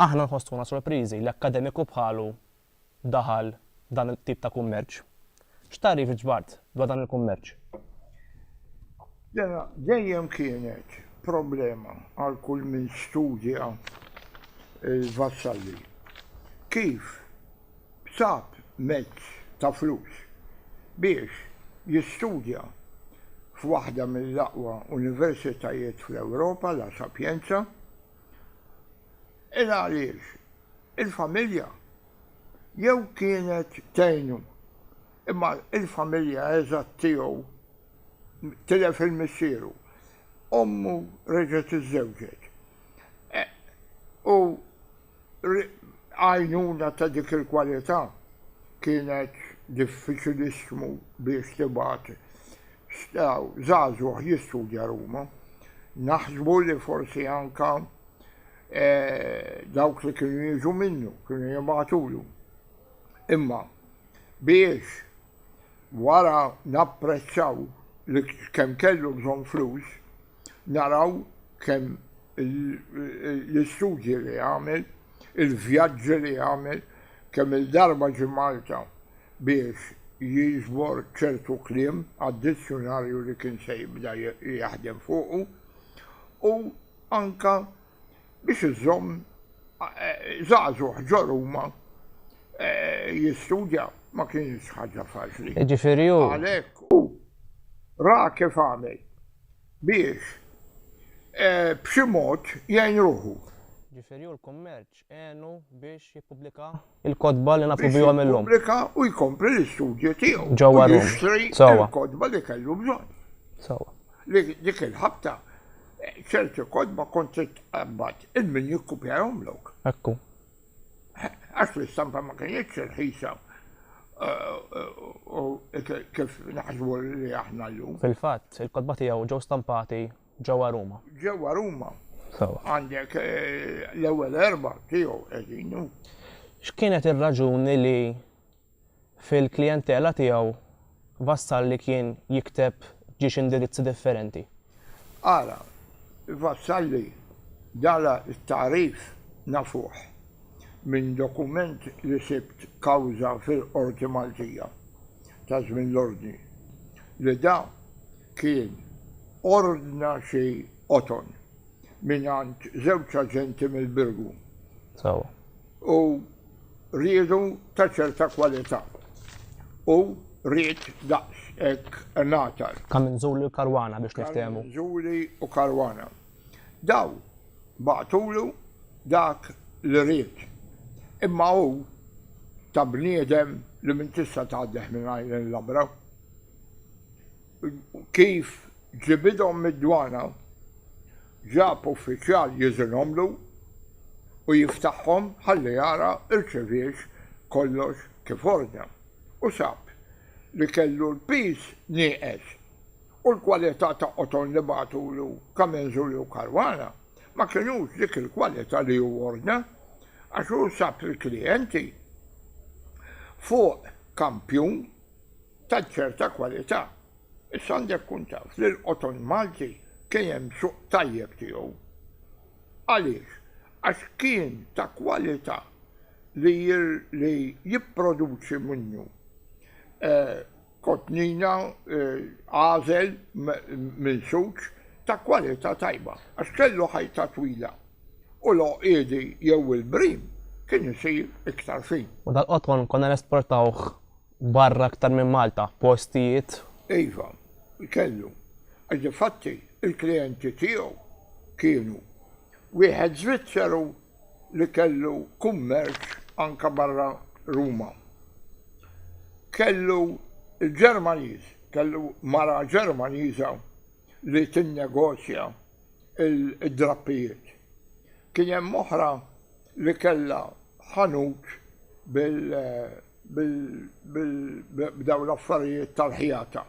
Aħna nħossuna sorpriżi li akkademiku bħalu daħal f'dan it-tip ta' kummerċ. X'tagħrif ġbart dwar dan il-kummerċ? Dena dejjem kienet problema għal kull min studja l-Vassalli. Kif sab mezz ta' flus biex jistudja f'waħda mill-aqwa universitajiet fl-Ewropa, La Sapienza, Hekk għaliex il-familja jew kienet tgħinu, imma l-familja eżatt tiegħu tilef il-missieru, ommu reġgħet iżżewġet, u għajnuna ta' dik il-kwalità kienet diffiċilissimu biex tingħata. X'naraw żagħżugħ jistudja Ruma, naħsbu li forsi anke dawk li kienu jiġu minnu kienu jibagħtulu. Imma biex wara napprezzaw li kemm kellu bżonn flus, Naraw kemm l-istudji li għamel, il-vjaġġi li għamel, kemm il-darba ġie Malta biex jiġbor ċertu kliem għad-dizzjunarju li kien se jibda jaħdem fuqu u anke Biex iżżomm żagħżugħ ġo Ruma jistudja ma kinitx ħaġa faċli. Jiġifieri hu. Għalhekk hu ra kif għamel biex b'xi mod jgħin ruħu. Jiġifieri hu l-kummerċ għenu biex jippubblika il-kotba li nagħtu bihom illum. Jippubblika u jkompli l-istudju tiegħu. Ġewwa Ruma. Jixtri l-kotba li kellu bżonn. Sawa. Li dik il-ħabta eh, ċerti kotba kont titqabbad il-min jikkupjahom lok. Ekku. Eh, għax l-istampa ma kienx irħisa eh, kif naħsbu li aħna llum. Fil-fatt, il-kotba tiegħu ġew stampati Ġewwa Ruma. Ġewwa Ruma. Sewwa. Għandek eh, l-ewwel erba' tiegħu qegħdin hu. X'kienet ir-raġuni li fil-klijentela tiegħu Vassal li kien jikteb ġiex indirizzi differenti? Ara, Vassalli dala t-tagħrif nafuh minn dokument li sibt kawża fil-Qorti Maltija ta' żmien l-Ordni li da kien ordna xi qoton mingħand żewġ aġenti mill-Birgu. Sewwa. U riedu ta' ċerta kwalità. U ried daqs hekk ngħatar. Kaminzuli u Caruana biex niftehmu. Kaminzuli u Caruana. Dawn bagħtulu dak li ried. Imma hu ta' bniedem li min tista' tgħaddeh mingħajr inlabra. Kif ġibidhom mid-dwana, ġab uffiċjal jigħżilhomlu u jiftaħhom ħalli jara rċeviex kollox kif ordna, u sab li kellu l-piż nieqes u l-kwalità ta' qoton li bagħtulu Kamenzuli u Caruana ma kinux dik il-kwalità li hu ordna, għax hu sab il-klijenti fuq kampjun. ta' ċerta kwalità. Issa għandek tkun taf li l-qoton Malti kien hemm suq tajjeb tiegħu. Għaliex? Għax kien ta' kwalità li li jipproduċi minnu kotnina, għażel, minsuġ ta' kwalità tajba għax kellu ħajta twila u l-għoqiedi jew il-brim kien isir iktar fin. U dal-qoton konna nesportawh barra aktar minn Malta, postijiet. Iva, kellu. Għax difatti l-klijenti tiegħu kienu wieħed Żvizzeru li kellu kummerċ anke barra Ruma. Kellu l-Ġermaniż, kellu mara Ġermaniża li tinnegozja d-drappijiet. Kien hemm oħra. li kellha ħanut b'dawn l-affarijiet tal-ħjata,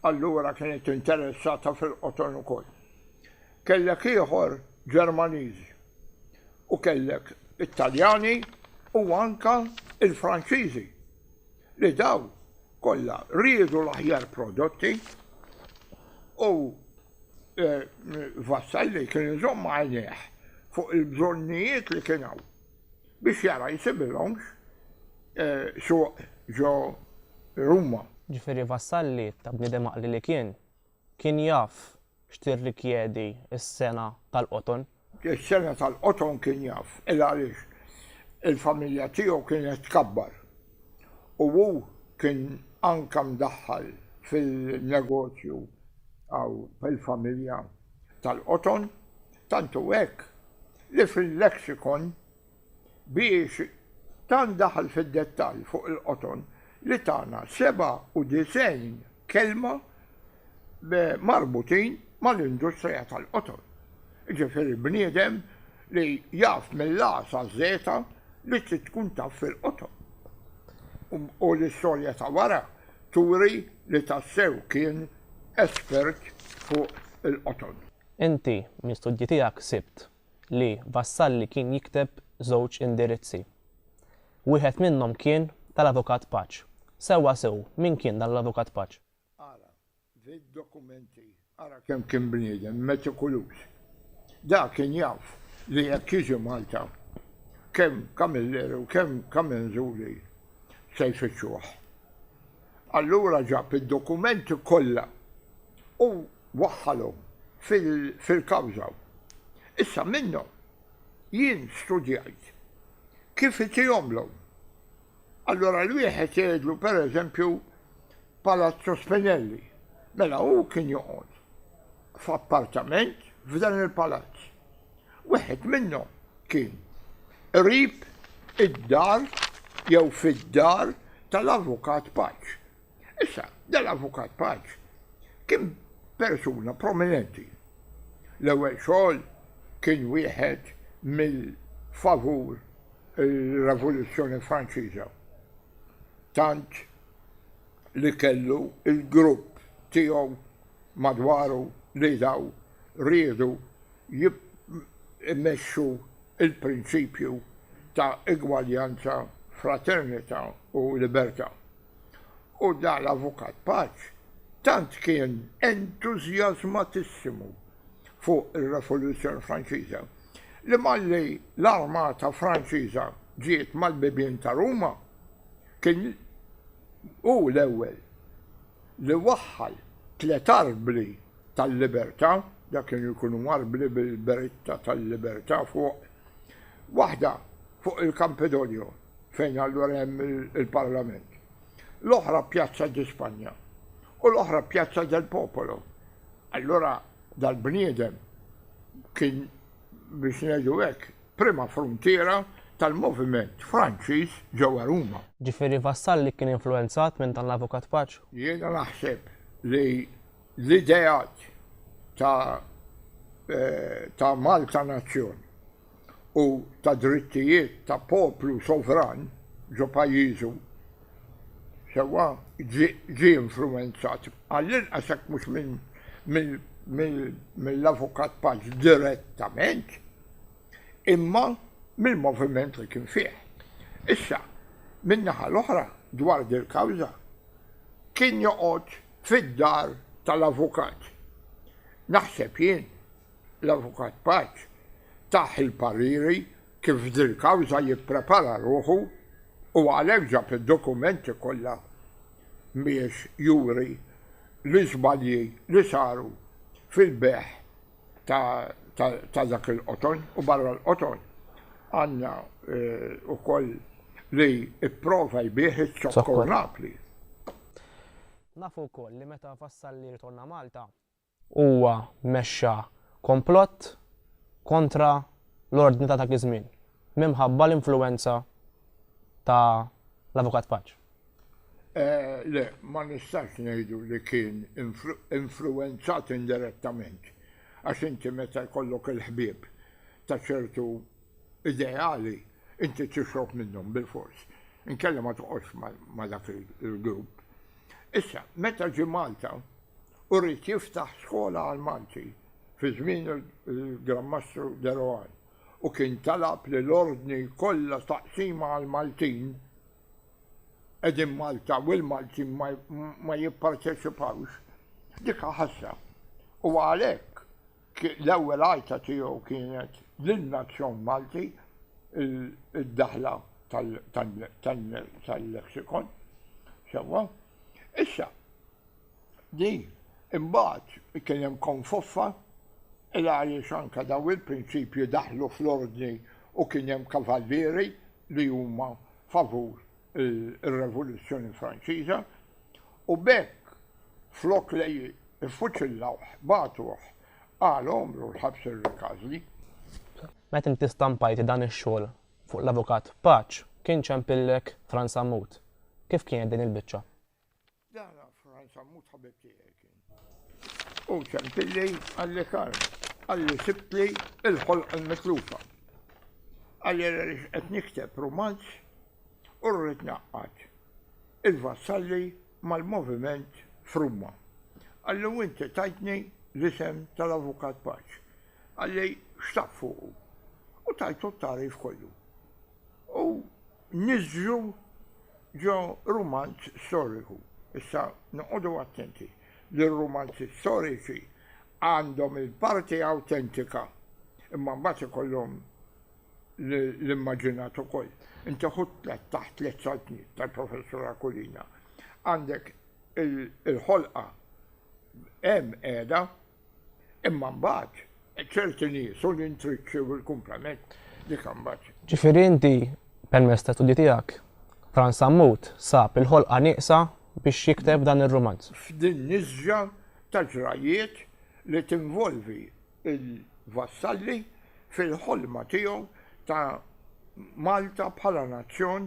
allura kienet interessata fil-qoton ukoll. Kellek ieħor Ġermaniżi u kellek it-Taljani u anke l-Franċiżi li dawn kollha riedu l-aħjar prodotti u Vassalli kien iżomm għajnejh fuq il-bżonnijiet li kien hawn biex jara jsibilhomx suq ġo Ruma. Ġifieri Vassalli, ta' bniedem għaqli li kien, kien jaf x'tirrikjedi s-sengħa tal-qoton. Is-sena tal-qoton kien jaf, il għaliex il-familja tiegħu kienet tkabbar u hu kien anke mdaħħal fil-negozju hawn fil-familja tal-qoton, tant hu hekk li fil-lexikon biex tant daħal fid-dettall fuq il-qoton li tana 97 kelma marbutin mal-industrija tal-qoton. Jiġifieri bniedem li jaf mill-A saz li trid tkun taf fil-qoton. U l-istorja ta' wara turi li tassew kien espert fuq il-qoton. Inti, mill-studji tiegħek sibt. li Vassalli kien jikteb żewġ indirizzi. Wieħed minnhom kien tal-Avukat Paċ. Sewwa sew min kien dan l-Avukat Paċ. Ara fid-dokumenti. Ara kemm kien bniedem metikuluż. Dak kien jaf li jekk jiġi Malta, kemm Camilleri u kemm Camenzuli se jfittxuh. Allura ġab id-dokumenti kollha u waħħalhom fil-kawża. Issa minnhom jien studjajt kif itihomlhom. Allura l-wieħed jgħidlu pereżempju Palazzo Spinelli, mela hu kien joqgħod. f'appartament f'dan il-palazz. Wieħed minnhom kien qrib id-dar jew fid-dar tal-Avukat Paċ. Issa, dal-Avukat Paċ kien persuna prominenti. L-ewwel xogħol kien wieħed mill-favur il-Revoluzzjoni Franċiża. Tant li kellu il-grupp tiegħu madwaru li daw riedu jmexxu l-prinċipju ta' igwaljanza, fraternità u libertà. U dan l-Avukat Paċ tant kien entużjażmatissimu fuq ir-Revoluzzjoni Franċiża li malli l-armata Franċiża ġiet mal-bibien ta' Ruma kien hu l-ewwel li waħħal tliet arbli tal-libertà, dak kienu jkunu arbli bil-beritta tal-libertà fuq, waħda fuq il-Kampedonio, fejn allura hemm il-Parlament, l-oħra Pjazza di Spanja u l-oħra Pjazza del Popolo. Allura dal-bniedem kien biex ngħidu hekk prima fruntiera tal-moviment Franċiż ġewwa Ruma. Ġifieri Vassalli kien influwenzat minn dan l-avukat paċ? Jiena naħseb li l-ideat ta' ta' Malta nazzjon u ta' drittijiet ta' poplu sovran ġo pajjiżu sewwa ġie influwenzat għall-inqas jekk mhux mill-avukat paċ direttament. imma mill-moviment li kien fih. Issa, min-naħa l-oħra, dwar dil-kawża, kien joqgħod fid-dar tal-avukat. Naħseb jien, l-Avukat Paċ tah il-pariri kif f'dil-kawża jipprepara ruħu u għalhekk ġab id-dokumenti kollha biex juri l-iżbalji li saru fil-bejgħ ta' dak il-qoton u barra l-qoton għandna wkoll li pprova jbigħ iż-zokkor Napli. Nafu wkoll li meta Vassalli rritorna Malta, huwa mexxa komplott kontra l-ordni ta' dak iż-żmien minħabba l-influwenza ta' l-Avukat Paċ. Le, ma nistgħux ngħidu li kien influwenzat indirettament, għax inti meta jkollok il-ħbieb ta' ċertu ideali, inti tixrob minnhom bilfors, inkella ma toqgħodx ma' dak il-grupp. Issa, meta ġie Malta u ried jiftaħ skola għall-Malti fi żmien il-Gran Mastru De Rohan u kien talab li l-Ordni jkollha taqsima għall-Maltin, Qegħdin Malta u l-Maltin ma jipparteċipawx. Dika ħasra. U għalhekk l-ewwel għajta tiegħu kienet lin-nazzjon Malti id-daħla tal-leksikon. Sewwa? Issa, di imbagħad kien hemm konfoffa il għaliex anke daw il-prinċipji daħlu fl-ordni u kien hemm kavallieri li huma favur ir-Revoluzzjoni Franċiża u b'hekk flok li jiffuċillawh bagħtuh għal għomru l-ħabs irrikazli. Meta inti stampajt dan ix-xogħol fuq l-Avukat Paċ kien ċempillek Fran Sammut. Kif kienet din il-biċċa? Dan Franz Ammut ħabib tiegħi kien. U ċempilli għalli kar, għalli sibtli il-ħolq il-mitlufa. Għalli għalli qed nikteb romanz u rrid naqqat il-vassalli mal-moviment frumma. Għalli u inti tajtni l-isem tal-avukat paċ. Għalli xtaq fuqu. U tajtu t-tarif kollu. U niżżlu ġo rumanz storiku. Issa noqogħdu attenti li r-rumanzi storiċi għandhom il-parti awtentika imma mbagħad ikollhom l-immaġinat ukoll. Inti ħu tliet taħt tliet saltniet tal-Professur Aquilina. Għandek il-ħolqa hemm qiegħda Imma mbagħad ċerti nies u l-intriċċi u l-kumplament li kan mbagħad. Ġifieri inti permezz ta' studji tiegħek Fran Sammut sab il-ħolqa nieqsa biex jikteb dan ir-rumanz. F'din nisġa ta' ġrajiet li tinvolvi il-vassalli fil-ħolma tiegħu ta' Malta bħala nazzjon